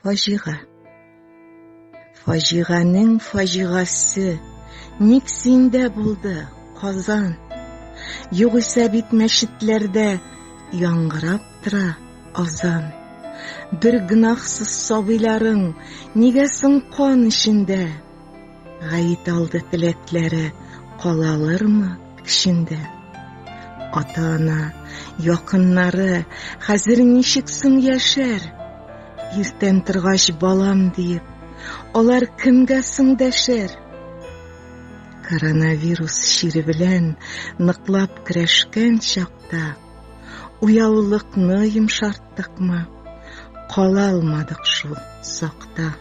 Фаҗига. Фаҗиганең фаҗигасе ник синдә булды, Казан? Югыйсә бит мәчетләрдә яңгырап тора азан. Бер гөнаһсыз сабыйларың нигә соң кан эчендә? Гаит алды теләкләре калалырмы эчендә? Ата-ана, якыннары хәзер ничек соң яшәр? Иртән торгач балам диеп, алар кемгә соң дәшәр? Коронавирус чире белән ныклап көрәшкән чакта уяулыкны йомшарттыкмы? Кала алмадык шул сакта.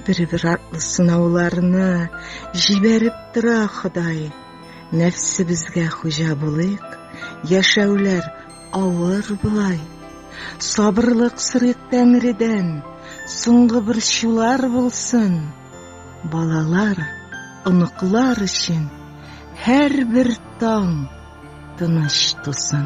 Бер-бер артлы сынауларны җибәреп тора Ходай. Нәфсебезгә хуҗа булыйк, яшәүләр авыр болай. Сабырлык сорыйк Тәңредән, соңгы борчулар булсын. Балалар, оныклар өчен һәрбер таң тыныч тусын.